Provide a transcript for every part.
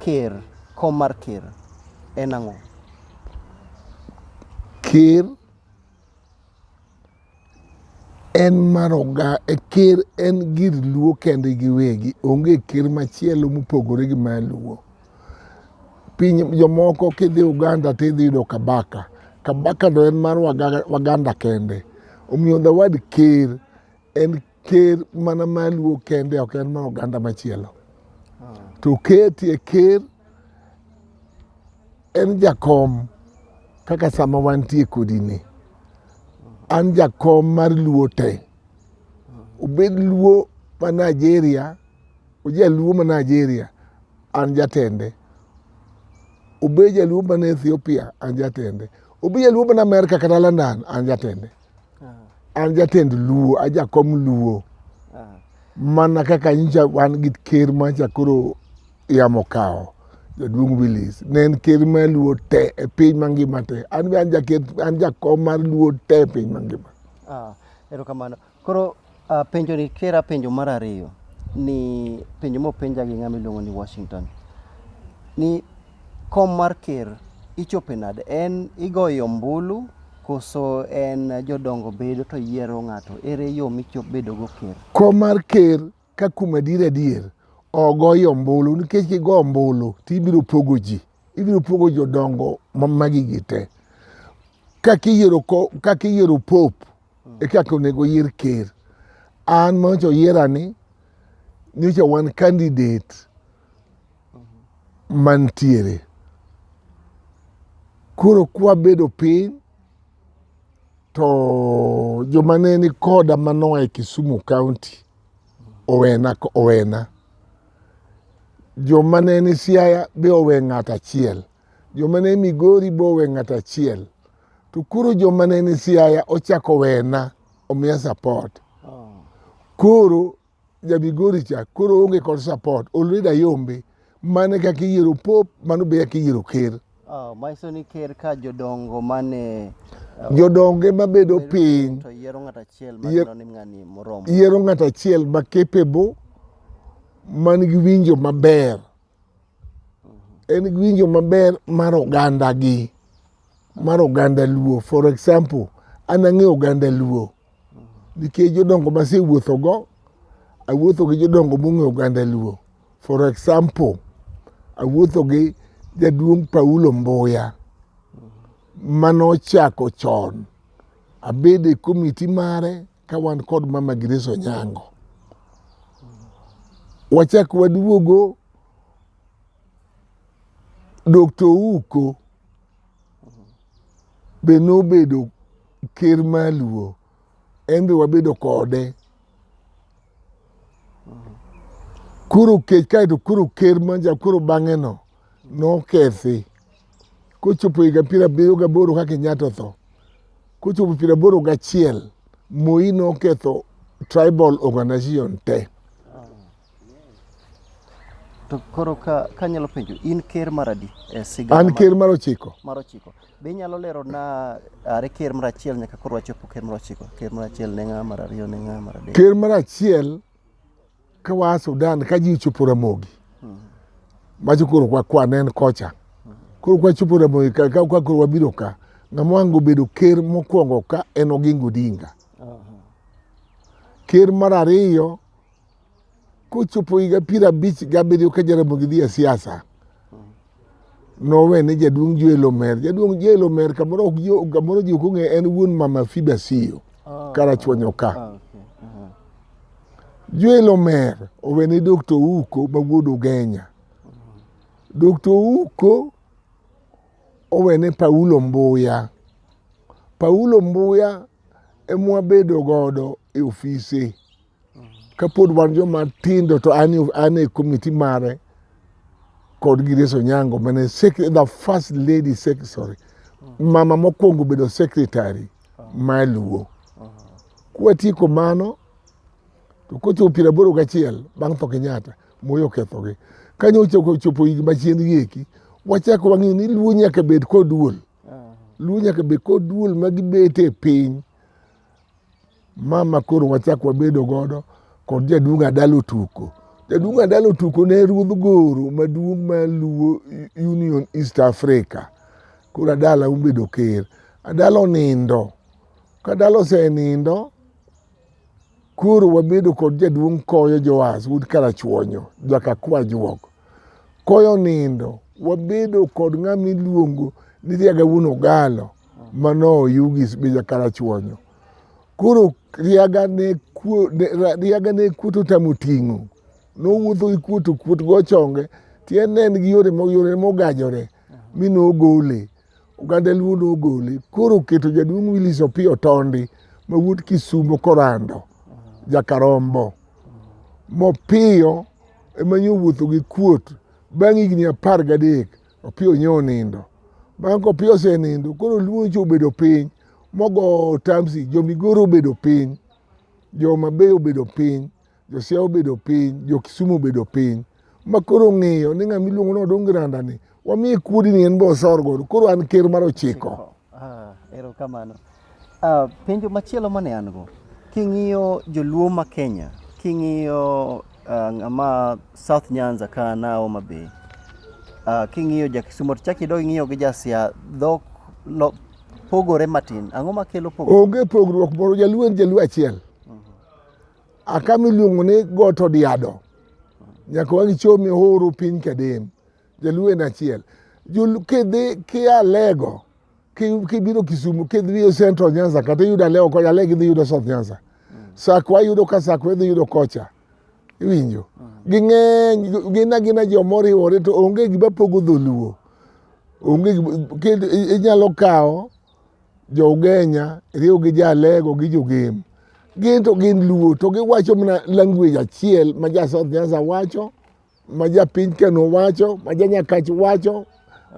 Ker, kom mar ker en ang'o? Ker en mar oga, e ker en gir luo kende giwegi, onge ker machielo mopogore gi ma luo. Piny jomoko kidhi Uganda tidhi yudo Kabaka, Kabaka no en mar Waganda kende. Omiyo the word ker en ker mana maluo kende ok en mana oganda machielo to keti e ker en jakom kaka sama wantie kodini an jakom mar luo te obed luo ma nigeria ojaluo ma nigeria an jatende obed jaluo ma ethiopia an jatende obed jaluo ma amerika kata london an jatende an jatend luo ajakom luo mana kaka nyicha wan gi ker macha koro yamo kawo jaduong' Willis ne en ker ma luo te e piny mangima te an be an jakom mar luo te e piny mangima ah, erokamano koro Uh, penjo ni kera penjo mar ariyo ni penjo mopenja gi ng'ama iluongo ni Washington ni kom mar ker ichope nade? En igoyo ombulu koso en jodongo bedo to yiero ng'ato? Ere yo michop bedo go ker? Kom mar ker ka kuom adier adier ogoyo ombulu nikech kigo ombulu to ibiro pogo ji ibiro pogo jodongo magigi te kaka iyiero pope hmm. e kaka onego oyier ker an manyocha oyierani nyocha wan candidate hmm. mantiere koro kwabedo piny to joma ne ni koda manoa e Kisumu County owena owena joma ne ni Siaya be owe ng'at achiel Joma ne Migori bo we ng'ato achiel. To koro joma ne ni Siaya ochako wena omiya support. Koro ja Migori cha koro onge kod support. Already ayombe. Mane kaka iyiero pop, mano be kaka iyiero ker. Oh, manyiso ni ker ka jodongo mane uh, jodongo ema bedo piny to yiero ng'ato achiel ma neno ni ng'ani moromo yiero ng'ato achiel ma capable man gi winjo maber en winjo maber mar oganda gi mar oganda luo for example an ang'e oganda luo nikech jodongo masewuotho go awuotho gi jodongo mong'e oganda luo for example awuotho gi jaduong' Paulo Mbuya manochako chon abede komiti mare ka wan kod mama Grace Onyango. Wachak waduogo Dr. Ouko be nobedo ker maluo en be wabedo kode koro kech kaeto koro ker manja koro bang'eno nokethi kochopo higa piero abiriyo gaboro ka Kenyatta otho, kochopo piero aboro gachiel Moi noketho tribal organization te. To koro ka kanyalo penjo in ker mar adi e sigana? An ker mar ochiko. Mar ochiko. Be inyalo lero na are ker mar achiel nyaka koro wachopo ker mar ochiko. Ker mar achiel ne ng'a, mar ariyo ne ng'a, mar adek. Ker mar achiel Ka waa Sudan ka ji ochopo Ramogi macho koro kwa kwa nen kocha koro kwa chopo Ramogi ka ka kwa koro wabiro ka ng'ama wango bedo ker mokwongo ka en Oginga Odinga. Ker mar ariyo kochopo higa piero abich gabiriyo ka Jaramogi dhi e siasa nowe ne jaduong' Joel Omer. Jaduong' Joel Omer kamoro ok jo kamoro ji ok ong'e en wuon mama Fida Siyo oh, karachuonyo ka. Oh, okay. uh-huh. Joel Omer owe ne Dr. Uko ma wuod Ugenya. Uh-huh. Dr. Uko owe ne Paulo Mbuya. Paulo Mbuya emwa bedo godo e ofise. Kapod wan joma tindo to an e komiti mare kod Gideso Nyango mane the first lady secretary mama mokwongo bedo secretary ma Luo. Kwatieko mano to kochopo piero aboro gachiel bang' tho Kenyatta moyo kethogi. Kanyo ochopo higni machien gieki wachako wang'eyo ni Luo nyaka bed kod duol. Luo nyaka bed kod duol ma gibete piny Mama koro wachak wabedo godo kod jaduong' Adalo Tuko. Jaduong' Adalo Tuko ne ruodh Goro maduong' ma luwo Union East Africa. Koro Adala obedo ker. Adala onindo. Ka Adala osenindo, koro wabedo kod jaduong' Koyo Joas wuod Karachuonyo, jaka kwa juok. Koyo onindo, wabedo kod ng'ama iluongo ni Riaga wuon Ogalo. mano yugis be jakara chuonyo koro riaga ne kuo riaga ne kuoto tamo ting'o nowuotho gi kuoto kuot go chonge tiende en gi yore yore mogajore mi nogole oganda luo nogole koro keto jaduong' Willis Opiyo Tondi ma wuod Kisumo korando jakarombo mopiyo ema nyowuotho gi kuot bang' higni apar gadek Opiyo onye onindo. Bang' kopiyo osenindo, koro luo nyocha obedo piny mogo tamsi, jomigoro obedo piny, jomabey obedo piny, josia obedo piny, jokisumu obedo piny. Ma koro ng'iyo ni ng'ama iluongo ni odong granda ni, wamiye kuodi ni en be osor godo. Koro an ker mar ochiko. Ah, erokamano. Uh, penjo machielo mane an go king'iyo joluo ma Kenya king'iyo uh, ng'ama South Nyanza ka na Homa Bay uh, king'iyo ja Kisumo to chaki dog ing'iyo gi ja Siaya dhok lo, pogore matin ang'o makelo pogruok onge pogruok moro jaluo en jaluo achiel uh -huh. akama iluongo ni got odiado uh -huh. nyaka wangi chomi horo piny kadem jaluo en achiel kidhi kia lego kibiro Kisumu kidhiyo Central Nyanza kata iyudo Alewo kocha ale gidhi yudo South Nyanza mm. sakwa iyudo ka sakwa idhi yudo kocha iwinjo mm. ging'eny gin agina jo moriwore to onge gima pogo dholuo onge inyalo kawo jougenya riwo gi jalego gi jogem gin to gin luo to giwacho mana language achiel ma ja South Nyanza wacho ma japiny keno wacho ma janyakach wacho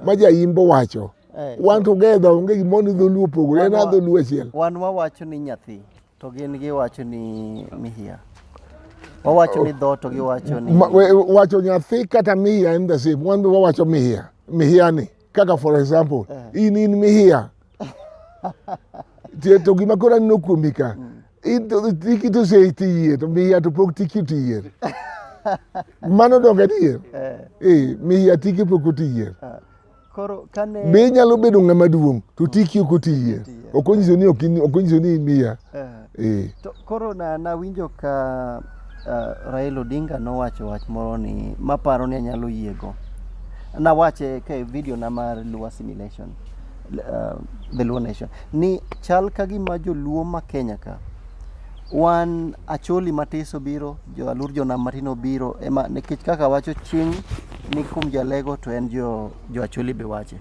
ma jaimbo wacho Eh, wan together onge gimoro ni dholuo opogore en Wan wa- adholuo achiel wan wawacho ni nyathi to gin giwacho ni mihia wawacho ni dho to giwacho ni Ma- we- wacho nyathi kata mihiya en the same wan be wawacho mihiya mihiya ni kaka for example in in mihiya Tie- to gima koro aneno kuomi ka Into tiki to sei tiye to miya to pok tiki tiye. Mano donge adier? Eh. Eh, miya tiki pok otiye. Ah, koro kane Be inyalo bedo ng'ama duong' to tiki ok otiye. Ok onyiso ni ok in- ok onyiso ni miya. eh, Eh. to koro na nawinjo ka ah, Raila Odinga nowacho wach moro ni maparo ni anyalo yiego. Nawache ka e video na mar Luo assimilation. uh, the Luo nation ni chal ka gima joluo ma Kenya ka wan acholi matiso biro jo alur jonam matino biro ema nikech kaka wacho ching ni kum jalego to en jo, jo acholi be wache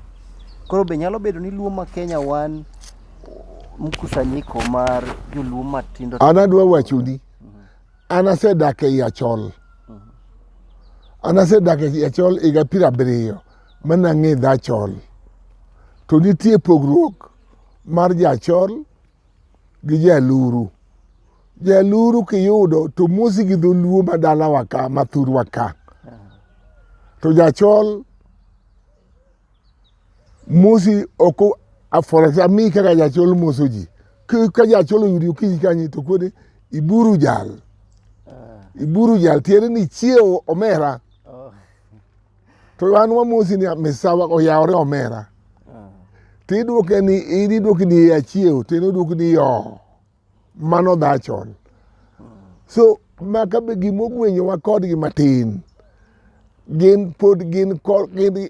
koro be nyalo bedo ni luo ma Kenya wan mkusanyiko mar joluo matindo an adwa wachoni an asedak ei achol an asedak ei achol higa piero abiriyo Mano ang'e dhachol. To nitie pogruok mar jachol gi jaluru. Jaluru kiyudo to mosi gi dholuo ma dalawa ka ma thurwa ka. To jachol mosi ok aforasa mi kaka jachol moso ji. Ka jachol oyudi okinyi kanyi to kodi iburu jal. Iburu jal tiende ni chiewo omera. to an wamosi ni misawa oyawore omera ah. to idwoke ni idwoki ni achiew to en odwoki ni yo mano dhachon so maka be gima ogwenyowa kodgi matin gin pod gin gin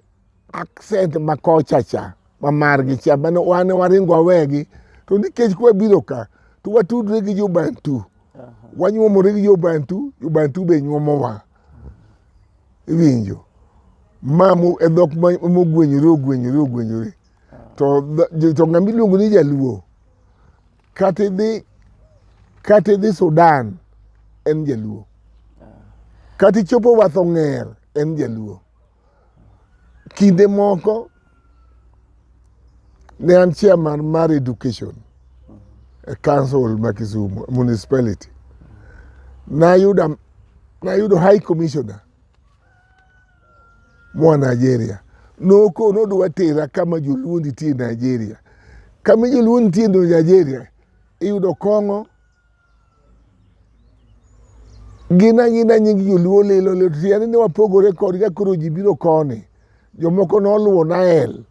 accent ma kochacha ma margi cha mane wan waringo wawegi to nikech kwa biro ka to watudre gi jobantu wanyuomore gi jobantu jobantu be nyuomowa iwinjo ma e dhok mogwenyore ogwenyore ogwenyore to to ng'ama iluongo ni jaluo kata idhi kata idhi Sudan en jaluo kata ichopo wath ong'er en jaluo Kinde moko ne an chairman mar education e council ma Kisumu municipality. Nayudo nayudo high commissioner mwa Nigeria noko nodwa tera kama joluo nitie Nigeria kama joluo nitie Nigeria iyudo kong'o gin angina nying joluo lilo lilo tiende ni wapogore kodgi ka koro ji biro koni jomoko noluwo nael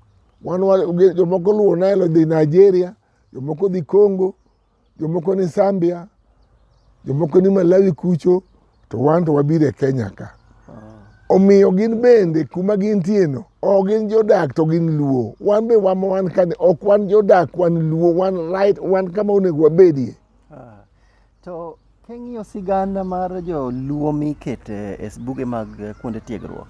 wan wa- gi- jomoko luwo nael odhi nigeria jomoko dhi congo jomoko ni zambia jomoko ni malawi kucho to wan to wabiro e Kenya ka. Omiyo gin bende kuma gintieno ok gin jodak to gin luo. Wan be wama wan kani ok wan jodak wan luo wan right wan kama onego wabedie. Ah, to king'iyo sigana mar joluo mikete e buge mag eh, kuonde tiegruok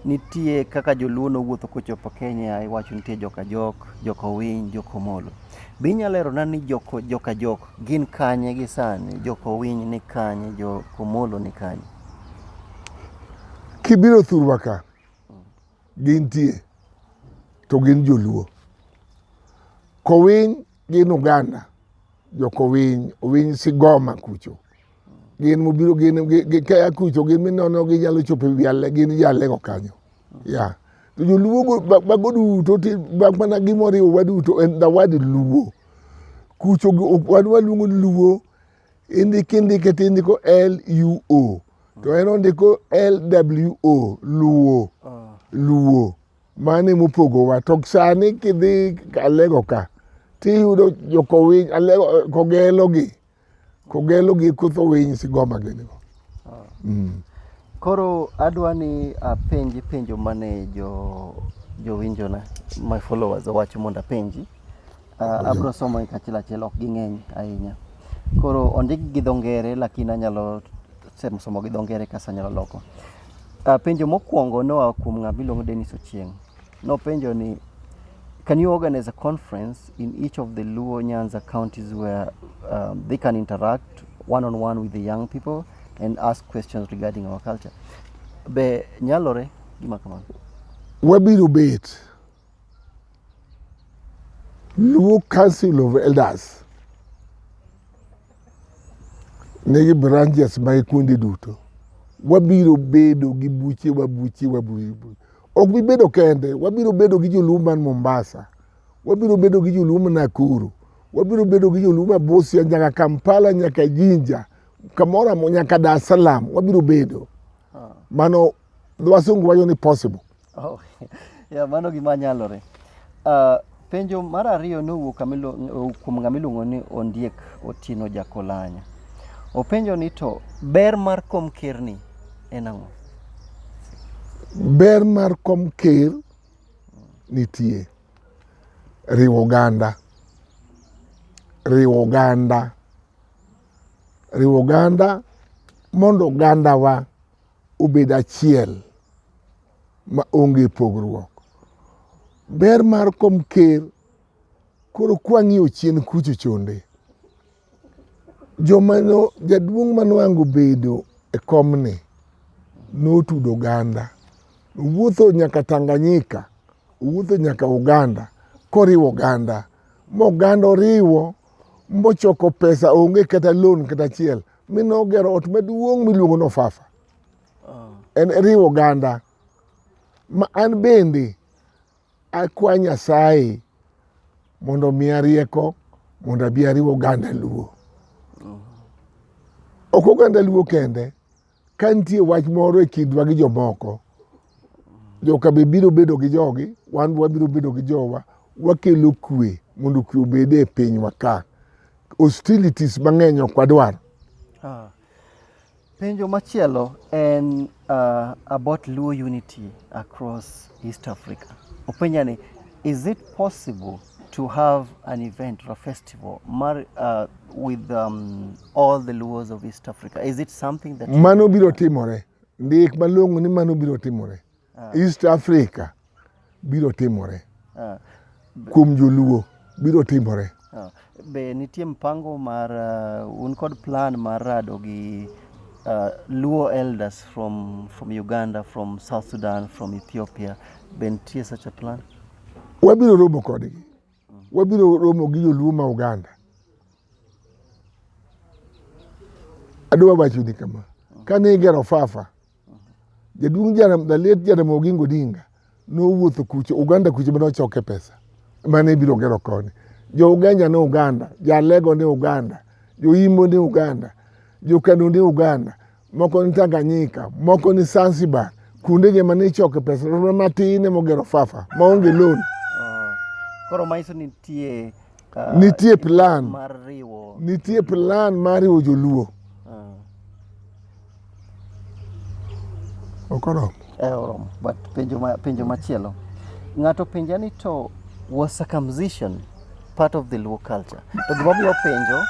nitie kaka joluo nowuotho kochopo Kenya iwacho nitie joka jok, joka owiny, joka omolo. Be inyalo lerona ni jok, joka jok Gin kanye gi sani? Jo Kowiny ni kanye? Jo Komolo ni kanye? Kibiro thurwa ka, gintie to gin joluo. Kowiny gin Uganda, jo Kowiny, Owiny Sigoma kucho. gin mobiro gin kaya kucho gin minono ginyalo chopo ewi ale gin jalego kanyo ya to joluo mago duto mak mana gimoriwo wa duto en the word luo kucho wan waluongo luo indiki indike to indiko l u o to en ondiko l w o luo ah. luo mane mopogowa to sani kidhi alego ka tiyudo jokowiny alego kogelogi Kogelo gi kutho winy sigoma gini go. Ah. Mm. Koro adwa ni apenji penjo mane jo jowinjo na my followers owacho mondo apenji. Uh, abro somo e kachiel achiel ok ging'eny ahinya. Koro ondik gi dho ngere lakini anyalo sem somo gi dho ngere kasa anyalo loko. Uh, penjo mokwongo noa kuom ng'ama iluongo Dennis Ochieng'. Nopenjo ni can you organize a conference in each of the Luo Nyanza counties where um, they can interact one on one with the young people and ask questions regarding our culture. Be nyalore gima kamano. Wabiro bet Luo Council of Elders nigi branches ma e kuonde duto. Wabiro bedo gi buche wa buche wa buche Ok bibedo kende, wabiro bedo gi joluo man Mombasa, wabiro bedo gi joluo man Nakuru, wabiro bedo gi joluo ma Busia nyaka Kampala nyaka Jinja kamoro amora nyaka Dar es Salaam wabiro bedo. Ah. Mano wasungu wacho ni possible. Oh, yeah, mano gima nyalore. Uh, Penjo mar ariyo ne owuok kuom ng'ama iluongo ni Ondiek Otieno Jakolanya. Openjo ni to ber mar kom ker ni en ang'o? Ber mar kom ker nitie riwo oganda riwo oganda riwo oganda mondo ogandawa obed achiel ma onge pogruok. Ber mar kom ker koro kwang'iyo chien kucho chonde joma no jaduong' manwango bedo e komni notudo oganda owuotho nyaka Tanganyika owuotho nyaka Uganda koriwo oganda moganda oriwo mochoko pesa onge kata loan kata achiel mine ogero ot maduong' miluongo ni Ofafa. oh. en riwo oganda ma an bende akwa Nyasaye mondo miya rieko mondo abi ariwo oganda Luo. Oh. Ok oganda Luo kende, ka nitie wach moro e kindwa gi jomoko, joka be biro bedo gi jogi, wan be wabiro bedo gi jowa, wakelo kwe mondo kwe obed e pinywa ka. Hostilities mang'eny ok wadwar. Ah. Penjo machielo en uh, about Luo unity across East Africa. Openja ni, is it possible to have an event or a festival mar, uh, with um, all the Luos of East Africa? Is it something that... Mano biro timore. Ndik malong'o ni mano biro timore. ah. East Africa biro timore ah. kuom joluo biro timore ah. be nitie mpango mar uh, un kod plan mar rado gi uh, luo elders from, from Uganda from South Sudan from Ethiopia be nitie such a plan wabiro romo kodgi mm. wabiro romo gi joluo ma Uganda adwa wachoni kama kane igero fafa Jaduong' Jaram, Daliet Jaramogi Odinga nowuotho kucho Uganda kucho mane ochoke pesa mane ibiro gero koni. Jo Uganda ne Uganda, Jalego ne Uganda, Jo Imbo ne Uganda, Jo Kano ne Uganda, moko ni Tanganyika, moko ni Zanzibar. Kuonde ge mane ichoke pesa romo matin ema ogero fafa maonge loan. Ah, koro maiso nitie uh, nitie plan mar riwo nitie plan mar riwo joluo. Uh. Ok oromo. Eh, oromo. But penjo, ma, penjo machielo. Ng'ato penja ni to was circumcision part of the Luo culture? To gima omiyo penjo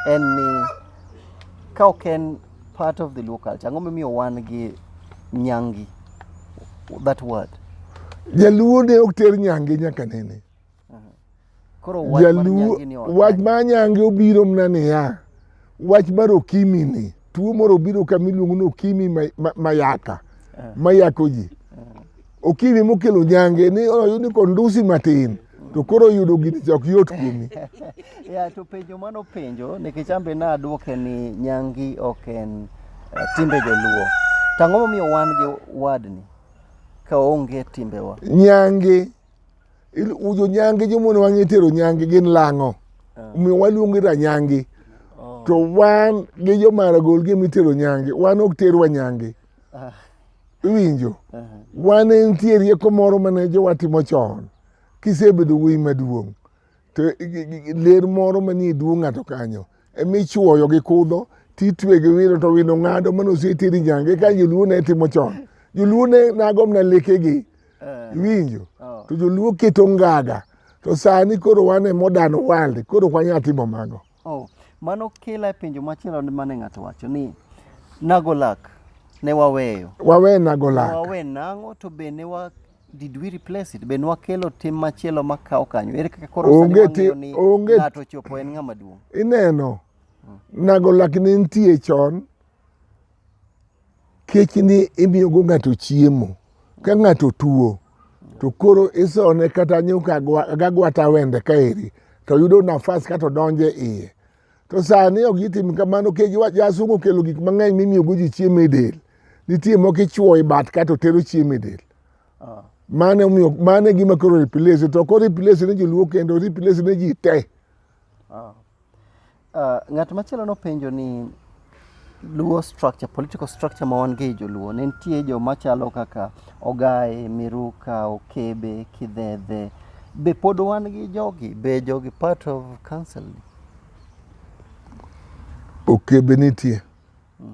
en ni ka ok en part of the Luo culture, ang'o momiyo wan gi nyangi? That word. Jaluo ne ok ter nyange nyaka nene. wach ma anyange obiro mna niya wach mar okimi ni tuo moro obiro kama iluongo ni okimi mayaka eh. mayako ji eh. okimi mokelo nyange ni oyud ni kondusi matin to koro oyudo gini chok yot kuomi ya to penjo mano penjo nikech ambe na adwoke ni nyangi ok en eh, timbe joluo tang'o momiyo wan gi wadni ka onge timbewa nyangi Jonyangi jomon wang' itero nyangi gin lang'o. Ah. Omiyo waluongo ira nyangi. Oh. To wan gi jomara gol gi mitero nyangi. Wan ok terwa nyangi. Ah. Iwinjo? Ah. Wan nitie rieko moro mane jowa timo chon. Kisebedo wuoyi maduong'. to ler moro manie duong' ng'ato kanyo ema ichuoyo gi kudho titwe gi wino to wino ng'ado mano oseteri nyange ka joluo ne timo chon joluo ne nagom na lekegi eh. iwinjo oh. to joluo keto ngaga to sani koro wan e modern world koro wanya timo mago Oh, mano kela e penjo machielo mane ng'ato wacho ni Nagolak ne waweyo. Wawe Nagolak. Wawe nango to be ne wa did we replace it? Be ne wakelo tim machielo makawo kanyo. Ere kaka koro sani Onge ti- wang'eyo ni onge- ng'ato ochopo en ng'ama duong'. Ineno, Nagolak ne nitie chon Kech ni imiyogo ng'ato chiemo. Ka ng'ato tuo to koro isone kata nyuka gagwata wende kaeri to yudo nafas kato donje iye. To sani ok gitim kamano kech jasungu okelo gik mang'eny mimiyogo ji chiemo e del. Nitie moko ichuo e bat kato tero chiemo e del. Ah. Mane omiyo mane gima koro replace to koro replace ne joluo kendo replace ne ji te. Ah. Uh, ng'at machielo nopenjo ni luo structure, political structure ma wan go e joluo ne nitie joma chalo kaka ogaye, miruka, okebe, kidhedhe. Be pod wan gi jogi? Be jogi part of council? Okebe nitie. Mm.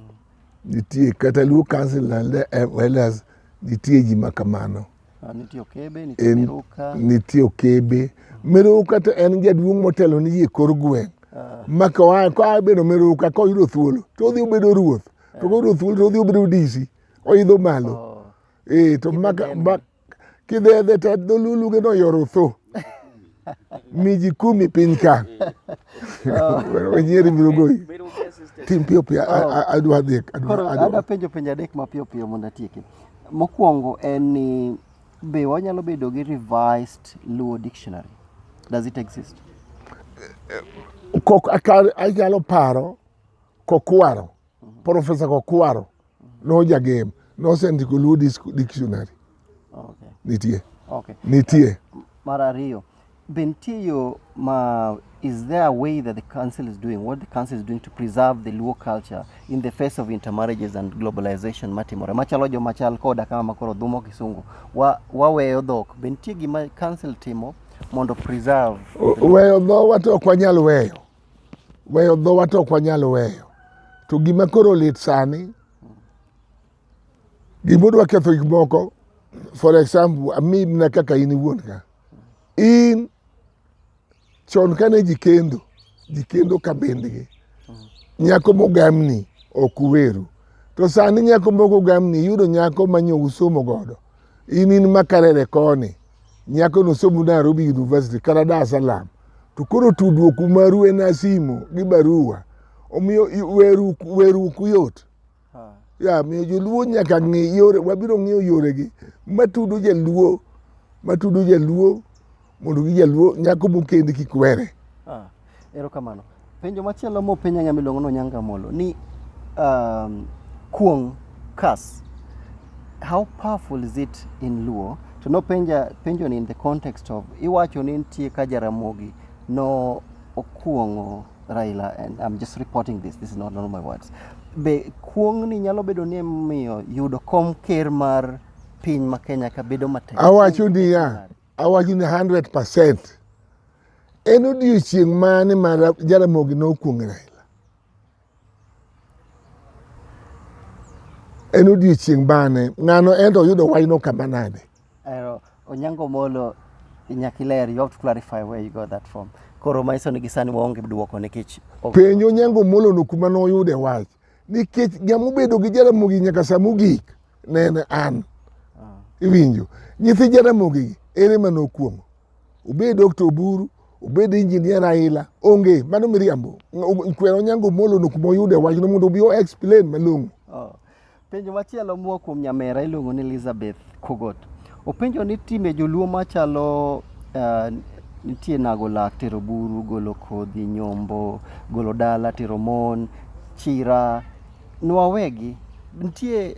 Nitie kata luo council and elders nitie ji ma kamano. Ah, nitie okebe, nitie miruka. Nitie okebe. Miruka to en jaduong' motelo ni yie kor gweng'. Ah. Ma koa bedo miruka koyudo thuolo to odhi obedo ruoth. To koyudo thuolo to odhi obedo DC. Oidho malo. Oh. Eh, to maka kidhedhe to dholuluge no yoro tho. miji kumi piny ka wenyeri biro goyi tim piyo piyo adwa dhie adwa penjo penjo adek mapiyo piyo mondo atieki mokwongo en ni be wanyalo bedo gi revised luo dictionary does it exist kok anyalo paro kokwaro profesa kokwaro No jagem. Nosendiko Luo Dictionary. Okay. Nitie. Okay. Nitie. Mar ariyo. Be nitie yo ma is there a way that the council is doing what the council is doing to preserve the Luo culture in the face of intermarriages and globalization matimore machalo jo machal koda kama makoro dhumo kisungu wa, waweyo dhok be nitie gima council timo mondo preserve weyo dhowa to ok wanyal weyo Weyo dhowa to ok wanyal weyo. To gima koro lit sani, gima odwa ketho gik moko, for example, ami na kaka in iwuon ka. In chon kane ji kendo, ji kendo ka bendgi. Nyako mogamni ok uweru. To sani nyako moko gamni yudo nyako ma nyo usomo godo. In in makarere koni, Nyako no somo Nairobi University kata Dar es Salaam to koro tudruok maru en na simo gi barua omiyo weruku yot ya miyo joluo nyaka ng'i yore wabiro ng'iyo yoregi matudo jaluo matudo jaluo mondo gi jaluo nyako mokendi kik were Erokamano. Penjo machielo mopenja ng'ama iluongo ni Onyango Amolo ni um, kuong' curse how powerful is it in Luo to nopenja penjo ni in the context of iwacho ni nitie ka Jaramogi no okuong'o Raila and I'm just reporting this this is not normal words be kuong' ni nyalo bedo ni miyo yudo kom ker mar piny ma Kenya ka bedo matek awacho niya awacho ni 100% En odiechieng' mane ma Jaramogi nokuong'e Raila? En odiechieng' mane? Ng'ano ento oyudo wayno kama nade? Onyango Molo, nyaka iler, you have to clarify where you got that from. Koro manyiso ni gisani waonge duoko nikech penj Onyango Molo no kuma noyude wach nikech jamobedo gi Jaramogi nyaka sa mogik ne en an. Ah. Iwinjo? Nyithi Jaramogi ere ma nokuong'o? obed Dr. Oburu, obed injinia Raila, onge mano miriambo. Kwero Onyango Molo no kuma oyude wachno mondo obi o explain malong'o. Oh. Penjo machielo moa kuom nyamera iluongo ni Elizabeth Kogot. Openjo ni time joluo machalo uh, nitie nago lak, tero buru, golo kodhi, nyombo, golo dala, tero mon, chira, nwawegi nitie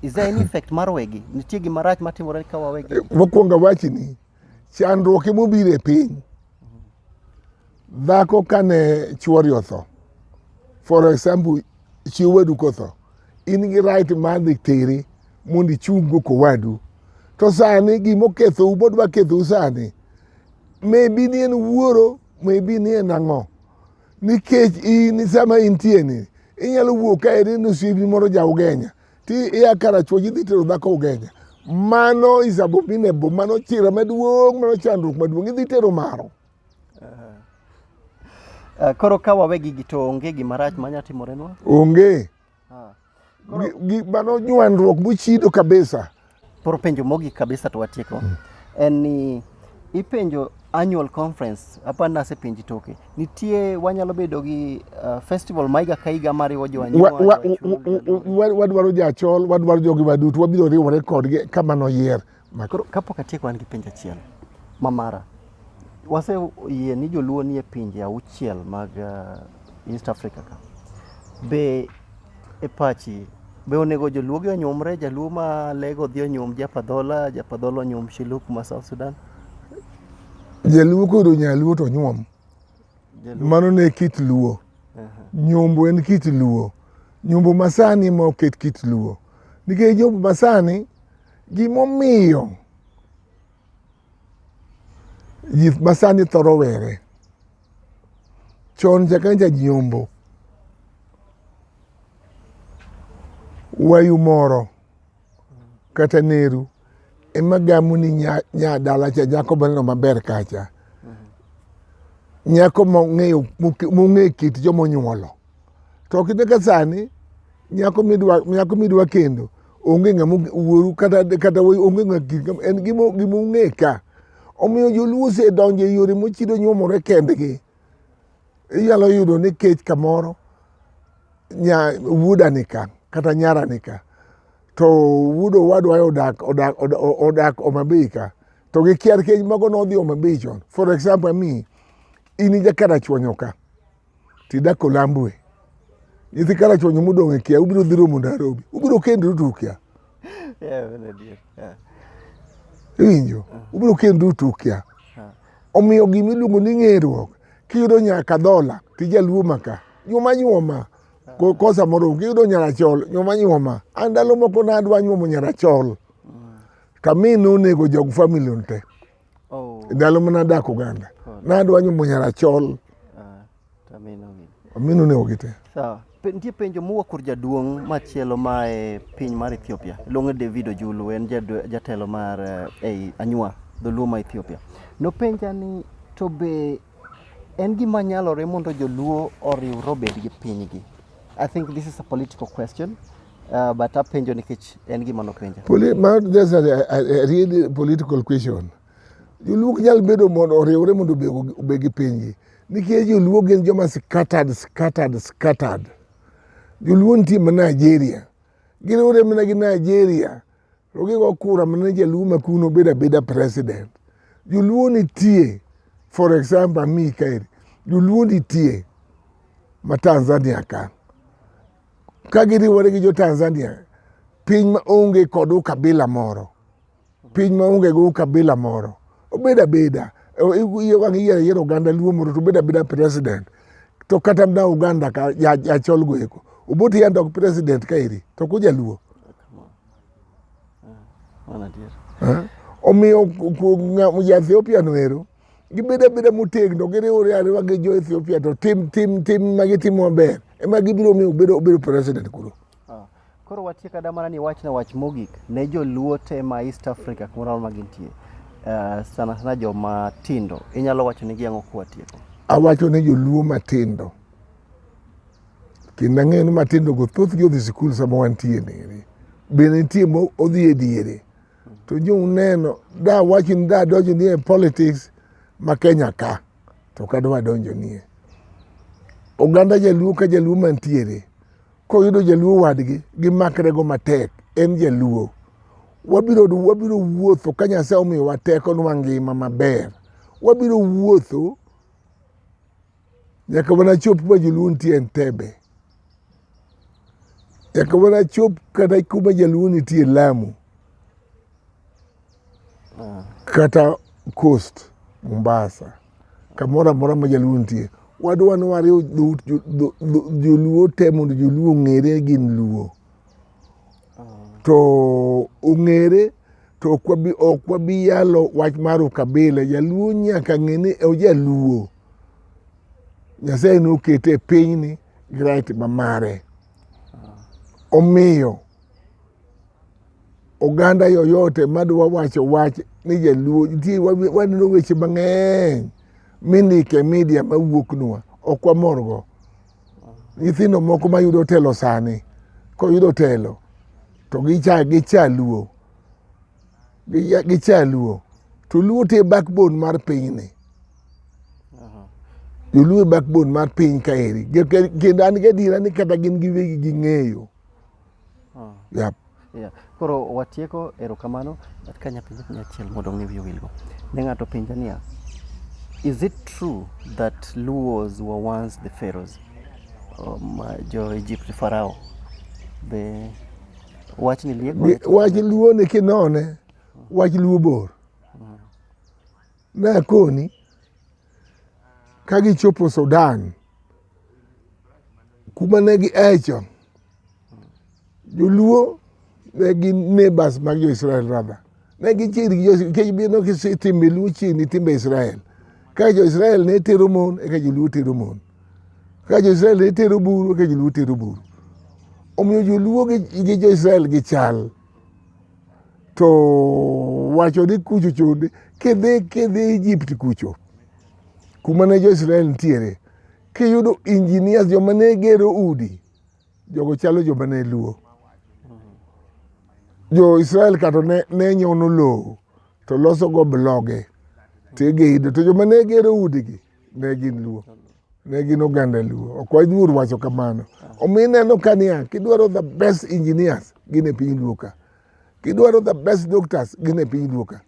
Is there any effect mar wegi? Nitie gima rach matimore ka wawegi? Mokwongo awachni, chandruok ema obiro e piny. Dhako kane chuori otho, for example, chi owadu kotho, in gi right mar dhi tere mondo ichunggo kowadu. To sani gima okethou modwa kethou sani, maybe ni en wuoro, maybe ni en ang'o. nikech in sama intie ni inyalo wuok ka eri ni osiepni moro ja ugenya ti ia karachuoch idhi tero dhako ugenya mano is abominable mano chira maduong' mano chandruok maduong' idhi tero maro Eh, koro ka wawegi gi to onge gima rach manya timorenwa onge Gik mano nywandruok mochido kabisa. Koro penjo mogik kabisa to watieko. Mm. En ni ipenjo annual conference apa nase penji toke nitie wanyalo bedo gi uh, festival maiga ka higa mariwo jowanywadwaro jachol wadwaro jogi waduto wabiro riwore kodgi kama noyier Ma koro kapok atieko an gi penjo achiel ma mara. Wase yie ni joluo nie pinje auchiel mag uh, East Africa ka. Be e pachi be onego joluo gi onyumre jaluo ma lego dhi onyum japadhola japadhola onyum shiluk ma South Sudan? Jaluo koro nyaluo to nyuom. Jaluo. Mano ne kit luo. Nyombo en kit luo. Nyombo masani ma oket kit luo. Nikech nyombo masani Gimomiyo ji masani thoro were chon chakre janyombo wayu moro kata neru ema gamu ni nyadala cha nyako maneno maber kacha nyako mong'eyo mong'eyo kit jomonyuolo To kinde ka sani nyako midwa nyako midwa kendo onge ng'ama wuoru kata kata onge ng'ama en gima gima ung'e ka. Omiyo joluo osedonjo e yore mochido nyuomore kendgi. Inyalo yudo ni kech kamoro nya wuoda nika kata nyara nika to wuod owadwa odak odak odak Homabay ka to gikiar kech mago nodhi Homabay chon. For example ami in ijakara chwonyo ka Tidak Olambwe, nyithi Karachuonyo modong' e Kia, ubiro dhi romo Nairobi, ubiro kendru to ukia. Iwinjo? Ubiro kendru to ukia. Omiyo gima iluongo ni ng'eruok, kiyudo nyaka dhola, tijaluo maka, nyuma nyuma kosa moro giyudo nyarachol nyoma nyoma an ndalo moko nadwa nyuomo nyarachol to amin nonego jog famili te Oh. Ndalo mana adak Uganda. Oh. Nadwa nyumo nyara chol. Ah, tamino gi. Amino ne ogite. Sawa. Nitie penjo mowuok kur jaduong' machielo ma e piny mar Ethiopia. Luonge David Ojulu en jatelo mar eh, ei Anywa dholuo ma Ethiopia. Nopenja ni to be En gima nyalore mondo joluo oriwre obed gi pinygi. I think this is a political question. Uh, but apenjo nikech en gima nopenja. Poli ma that's a, a, a really political question. Joluo ok nyal bedo mondo oriwre mondo obe- obed gi pinygi. Nikech joluo gin joma scattered, scattered, scattered. Joluo nitie ma Nigeria. Giriwre mana gi Nigeria. to gigo kura mana ni jaluo ma kuno bedo abeda president joluo nitie for example ami kaeri joluo nitie ma tanzania ka ka giriwore gi jo tanzania piny ma onge kod ukabila moro piny ma onge go ukabila moro obeda beda iye wang iyiero yiero oganda luo moro to obeda beda president to kata mna Uganda ka ya, ya chol goeko Obote ya ndok president ka iri to kuja luo eh? omiyo ja Ethiopia no ero gibedo abeda motegno giriwore ariwa gi jo Ethiopia to tim tim tim ma gitimo maber ema gibiro miyo obedo president kuro Koro watie kada mana ni wachna wach mogik ne joluo te ma East Africa kumoro amora ma gintie uh, sana sana joma tindo inyalo wacho nigi ang'o kwatieko? Awacho ne joluo matindo kendo ang'eyo ni matindo go thothgi odhi sikul sama wantie niri bende nitie modhi e diere to jo uneno da wacho ni da donjo ni e politics ma Kenya ka to kadwa donjo nie oganda jaluo ka jaluo mantiere koyudo jaluo wadgi gimakrego matek en jaluo wabiro wabiro wuotho ka nyasaye omiyowa teko nwa ngima maber wabiro wuotho nyaka mana chop ma jaluo nitie Entebbe nyaka mana chop kata kuma jaluo nitie Lamu kata coast Mombasa, kamoro amora ma jaluo nitie, wadwa ni wariw dhout jo- dho- dho- joluo te mondo joluo ong'ere gin luo to ong'ere to ok wabi- ok wabi yalo wach mar ukabila jaluo nyaka ng'e ni ojaluo nyasaye nokete e pinyni gi right ma mare omiyo oganda yoyote madwa wacho wach ni jaluo nitie waneno weche mang'eny mindike e media mawuoknwa ok wamorgo nyithindo moko mayudo telo sani koyudo telo to gicha gicha luo gicha luo to luo te backbone mar pinyni joluo e backbone mar piny kaeri kendo an gadiera ni kata gin giwegi ging'eyo Oh. Yep. Yeah. Koro watieko erokamano ka nyapenjo penjo achiel mondo ng'e wiye wilgo. Ne ng'ato penja niya, is it true that Luos were once the pharaohs? Um, jo Egypt farao. Be wach ni lieko. Wach Luo ni kinone, wach Luo bor. Ne koni ka gichopo Sudan kuma ne gi echo joluo ne gin neighbors mag jo-Israel rather ne gichiegni gi jo- nikech bino kise- timbe luo chiegni timbe Israel ka jo-Israel ne tero mon eka joluo tero mon ka jo-Israel ne tero buru eka joluo tero buru omiyo joluo gi gi jo-Israel gichal to wacho ni kucho chonde kidhi kidhi Egypt kucho kuma ne jo Israel nitiere kiyudo engineers joma ne gero udi jogo chalo joma ne luo jo Israel kato ne, ne nyono lowo to loso go bloge to igeydo to joma ne gero udigi ne gin luo ne gin oganda luo ok waluor wacho kamano omiyo ineno ka niya kidwaro the best engineers gin e piny luo ka kidwaro the best doctors gin e piny luo ka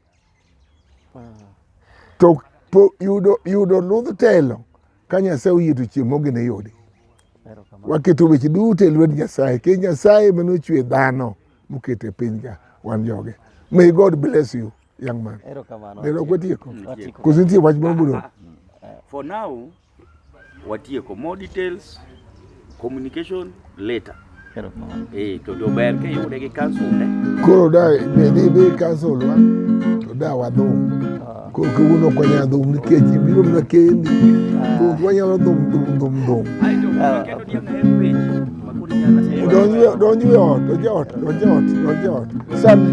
to po, yudo, yudo ludh telo ka nyasaye oyie to chieng' mogene yudi Erokamano. waketo weche duto e lwet nyasaye ke nyasaye manochwe dhano mokete piny ka wan joge may god bless you young man. Erokamano. Delo kwatieko. Koz nitie wach moro modong'. For now watieko more details communication later. Erokamano. Eh, to dober ke yude gi council ne. Koro da be dhi be council wa to da wadhum. Ah. Koro kawuono ok wanyal dhum nikech ibiro mana kendi. Ah. Koro ok wanyal dhum dhum dhum dhum. Ah, donj e ot, donj e ot, donj e ot, donj e ot. Sani